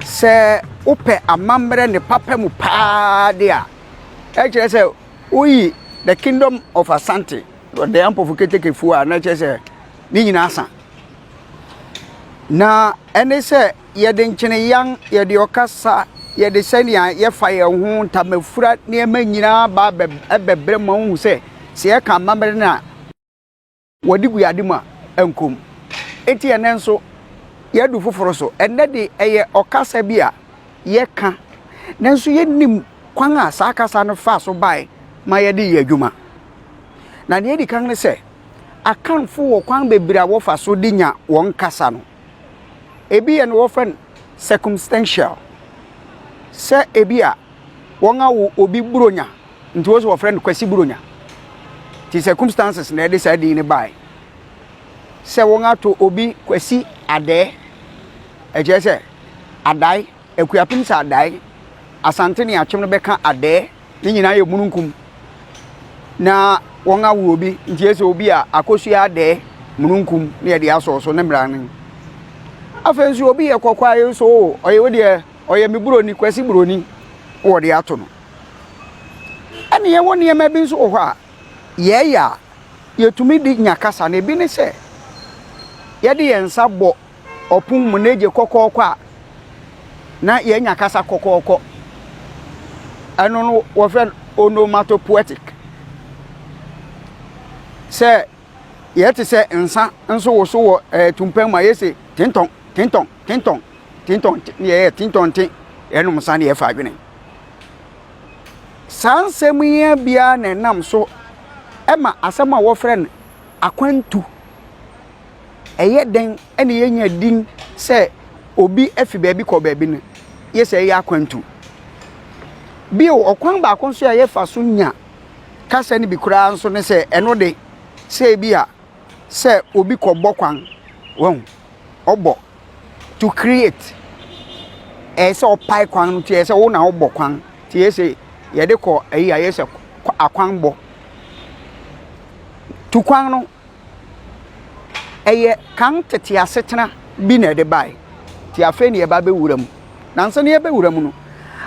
Sɛ wopɛ amammerɛ ne papa mu paa de a, na kyerɛ sɛ woyi the kingdom of asante the ampofo ketekefo a na kyerɛ sɛ ne nyinaa asa na ɛne sɛ yɛde nkyeneyan yɛde ɔkasa yɛde sɛnea yɛfa yɛn ho ntamafura nneɛma nyinaa ba ɛbɛbrɛ ma wohu sɛ sɛ yɛka amammerɛ no a Wɔde gu ade mu a, ɛnkɔ mu. Enti ɛnnɛ nso, yɛadu foforo so. Ɛnnɛ de, ɛyɛ ɔkasa bi a yɛka, nanso yennim kwan a saa kasa no faa so bae ma yɛde yɛ adwuma. Na nea edi kan ne sɛ, Akanfo wɔ kwan bebree a wɔfa so de nya wɔn kasa no. Ebi yɛ no wɔfrɛ no circumstantial, sɛ ebi a wɔawo obi Buronya nti wɔsɛ wɔfrɛ no Kwasi Buronya. Nti circumstances na ɛde saa din no bae. Sɛ wɔato obi Kwasi Adɛɛ, ɛkyerɛ sɛ Adae, Akuapem sɛ Adae, Asante ne Akyem no bɛka Adɛɛ. Ne nyinaa yɛ mununkum na wɔn awoɔ bi nti ɛsɛ obi a akosua adɛɛ mununkum na yɛde asɔ so ne mmara no afei nso obi yɛ kɔkɔa yi nso o ɔyɛ wo deɛ ɔyɛ me buroni kwasi buroni wɔde ato no ɛne yɛwɔ nneɛma bi nso wɔ hɔ a yɛɛyɛ a yɛtumi de nya kasa na ebi ne sɛ yɛde yɛn nsa bɔ ɔpon mu na egye kɔkɔɔkɔ a, na yɛanya kasa kɔkɔɔkɔ. Ɛno no wɔfrɛ no onomatopoetic. Sɛ yɛte sɛ nsa nso woso wɔ ɛɛ tumpɛn mu a, yɛse tentɔn tentɔn tentɔn tentɔn te ne yɛyɛ tentɔn te, yɛnom nsa na yɛfa adwene. Saa nsɛm yi ara bi ara na ɛnam so ma asɛm a wɔfrɛ no akwantu. ɛyɛ dɛn na yɛanya din sɛ obi afi baabi kɔ baabi no, gye sɛ yɛyɛ akwantu. Bio, ɔkwan baako nso a yɛfa so nya kasa no bi koraa nso ne sɛ ɛno de, sɛ ebi a sɛ obi kɔbɔ kwan, wɔn ɔbɔ to create, ɛyɛ sɛ ɔpae kwan no, ɛyɛ sɛ wo na wobɔ kwan, te yɛ sɛ yɛde kɔ ayi a yɛ sɛ akwanbɔ. Tu kwan no. Ɛyɛ kan tete asetena bi na ɛde bae, enti afei na yɛreba abɛwura mu. Na ansa na yɛbɛwura mu no,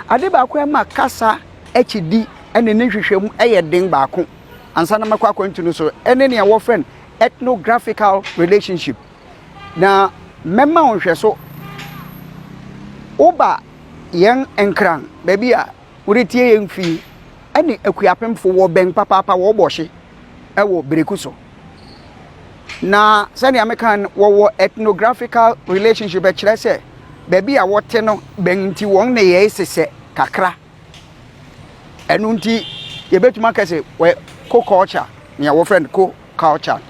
ade baako a ɛma kasa akyidi ne ne nhwehwɛmu yɛ den baako, ansa na makɔ akwantu no so, ne nea wɔfrɛ no ethnographical relationship. Na mɛma wo nhwɛso. Woba yɛn Nkran, baabi a woretie yɛn fi, ɛne Akuapemfo, wɔbɛn papaapa, wɔbɔ hye. wɔ bereku so. Na sɛnea meka no, wɔwɔ ethnographical relationship, ɛkyerɛ sɛ baabi a wɔte no bɛn nti wɔn nneyɛe sesɛ kakra. Ɛno nti yɛbɛtumi aka sɛ wɔyɛ co-culture, nea wɔfrɛ no co-culture.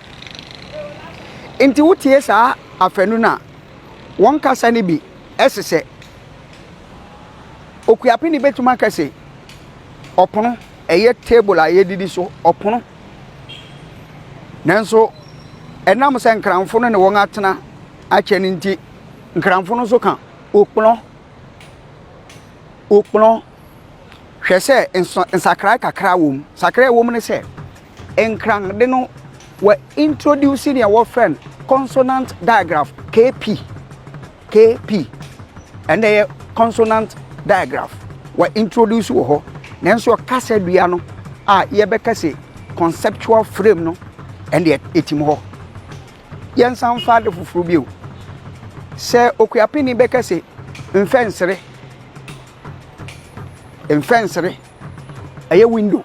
Nti wotie saa afanu no a, wɔn kasa no bi sesɛ. Okuapeni bɛtumi aka sɛ ɔpono. ɛyɛ table a yɛdidi so, ɔpono. Nanso ɛnam sɛ nkranfo no ne wɔn atena akyɛ no nti, nkranfo no nso ka okplɔ, okplɔ. Hwɛ sɛ nsa nsakrae kakra wɔ mu. Nsakrae a ɛwɔ mu ne sɛ nkran de no wɔ introduce nea wɔfrɛ no consonant digraph, KP. KP, ɛnna ɛyɛ consonant digraph, wɔ introduce wɔ hɔ nanso kasadua no a yɛbɛka sɛ conceptual frame no ɛnna ɛtim hɔ. Yɛnsan mfa ade foforɔ bio. Sɛ Okuapini bɛka sɛ mfɛnsere, mfɛnsere ɛyɛ window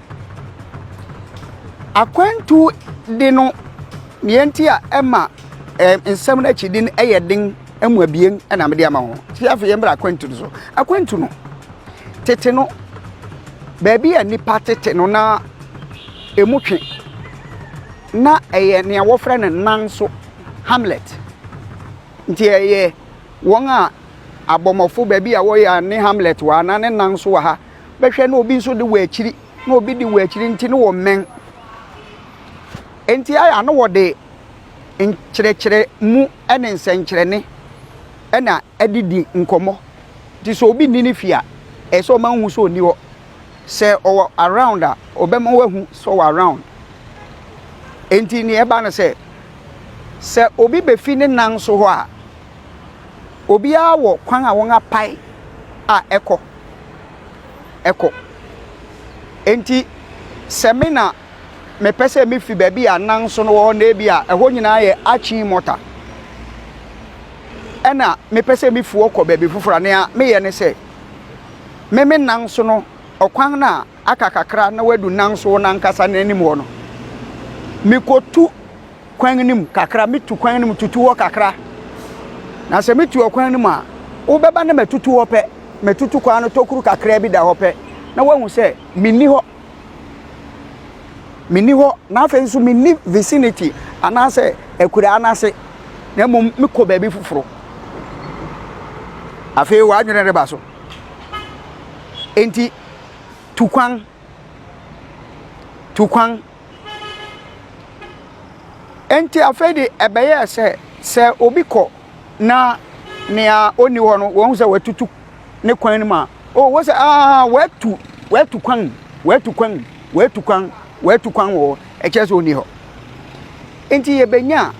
Akwantu de no, nea nti a ɛma ɛɛ nsɛm no akyidi no yɛ den mu abien na mede ama ho. Ti afei yɛn bra akwantu no so. Akwantu no, tete no, baabi a nipa tete no na emu twe. Na ɛyɛ nea wɔfrɛ no nan so hamlet. Nti ɛyɛ wɔn a abɔmmɔfo baabi a wɔyɛ a ne hamlet wɔ ha na ne nan so wɔ ha. bɛhwɛ na obi nso de wɔ akyiri na obi de wɔ akyiri nti no wɔmmɛn nti ayɛ ano wɔde nkyerɛkyerɛ mu ne nsɛnkyerɛne ɛna ɛde di nkɔmmɔ nti sɛ obi nni ne fie a ɛyɛ sɛ ɔma wohu sɛ ɔnni hɔ sɛ ɔwɔ around a ɔbɛma woahu sɛ ɔwɔ around nti nea ɛba no sɛ sɛ obi bɛfi ne nan so hɔ a Obiara wɔ kwan a wɔapae a ɛkɔ. Ɛkɔ. Enti sɛ me na mepɛ sɛ mefi baabi a nan so no wɔ hɔ na ebi a ɛhɔ nyinaa yɛ akyin mɔta ɛna mepɛ sɛ mefi hɔ kɔ baabi foforɔ a nea meyɛ ne sɛ me me nan so no ɔkwan no a aka kakra na wadu nanso wɔn ankasa n'anim hɔ no mekɔtu kwan no mu kakra metu kwan no mu tutu hɔ kakra na sɛ metu ɔkwan no mu a wobɛba na matutu hɔ pɛ matutu kwan no tokuru kakra bi da hɔ pɛ na woahu sɛ menni hɔ menni hɔ na afei nso menni vicinity anaasɛ akuraa no ase na mmom mekɔ baabi foforɔ afei w'adwene reba so enti Tu kwan. Tu kwan. Enti afei de ɛbɛyɛɛ sɛ sɛ obi kɔ na nea ɔnni hɔ no wɔhu sɛ watutu ne kwan no mu a oh wɔ sɛ aa watu watu kwan watu kwan watu kwan watu kwan wɔ hɔ ɛkyerɛ sɛ ɔnni hɔ nti yɛbɛnya a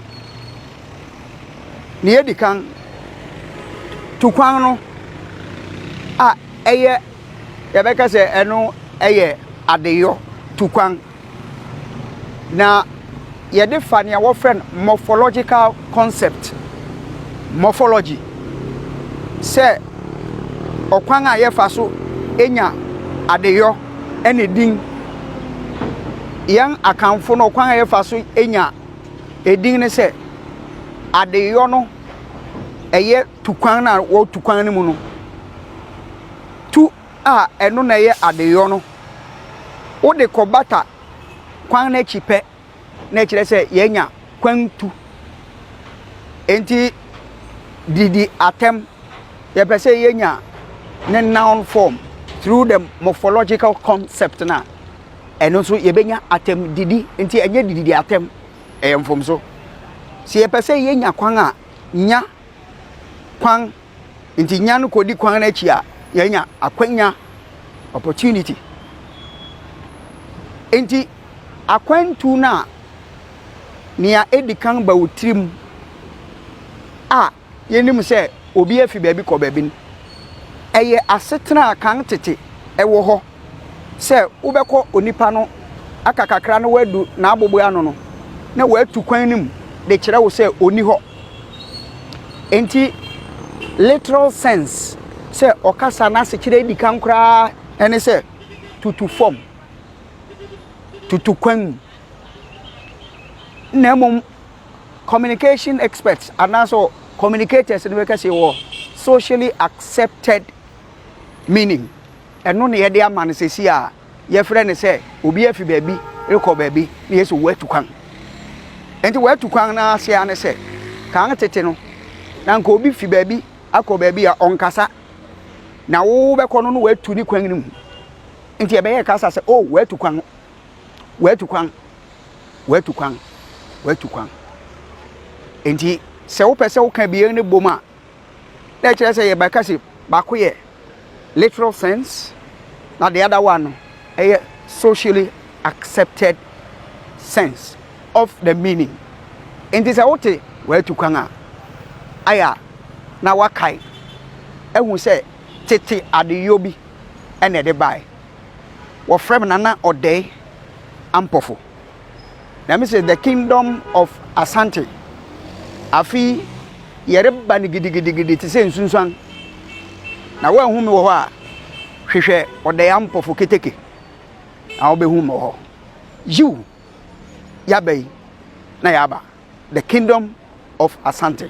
nea ɛdi kan tu kwan no a ɛyɛ yɛbɛka sɛ ɛno yɛ adeyɔ tukwan. Na yɛde fa nea wɔfrɛ no morphological concept, morphology, sɛ ɔkwan a yɛfa so nya adeyɔ ne din. Yɛn Akanfo no, ɔkwan a yɛfa so nya edin ne sɛ adeyɔ no, ɛyɛ. tu kwan no a wɔtu kwan no mu no, tu a ɛno na ɛyɛ adeyɔ no, wode kɔbata kwan no akyi pɛ na ɛkyerɛ sɛ yɛanya kwantu. Enti didi atɛm, yɛpɛ sɛ yɛnya ne noun form through the morphological concept no a, ɛno nso yɛbɛnya atɛm didi. Nti ɛnyɛ didi atɛm, ɛyɛ mfomso. Sɛ yɛpɛ sɛ yɛnya kwan a, nya kwan nti nya no kɔdi kwan no akyi a yɛanya akwanya opportunity nti akwantu no a nea ɛdi kan ba wo tirim a yɛnim sɛ obi afi baabi kɔ baabi no ɛyɛ asetena a kan tete ɛwɔ hɔ sɛ wobɛkɔ onipa no aka kakra na woadu n'aboboe ano no, na watu kwan no mu de kyerɛ wo sɛ ɔnni hɔ. Enti, literal sense sɛ ɔkasa n'asekyerɛ edi kan koraa ne sɛ tutu fam, tutu kwan mu. Na mmom communication experts anaasɛ communicators no bɛka sɛ wɔ socially accepted meaning. Ɛno na yɛde ama no sɛsi a yɛfrɛ no sɛ obi afi baabi rekɔ baabi na yɛsɛ watu kwan. Nti watu kwan no ase ara ne sɛ kan tete no na nka obi fi baabi akɔ baabi a ɔnkasa na wo bɛkɔ no no watu ne kwan no mu. Nti yɛbɛyɛ kasa sɛ o oh, watu kwan, watu kwan, watu kwan, watu kwan. Nti sɛ wopɛ sɛ woka bie no bom a na ɛkyerɛ sɛ yɛbɛka se baako yɛ literal sense na the other one no ɛyɛ socially accepted sense of the meaning nti sɛ wote wɔatu kwan a ayɛ a na wakae ahu sɛ tete adeyɔ bi ɛna ɛde bae wɔfrɛ me nana ɔdɛe ampɔfo na me se the kingdom of Asante afe yi yɛreba no gidigidigidi te sɛ nsunsuan na woanhu me wɔ hɔ a hwehwɛ ɔdaya mpɔfo keteke na wobɛhu me wɔ hɔ yiw yaba yi na yaba the kingdom of Asante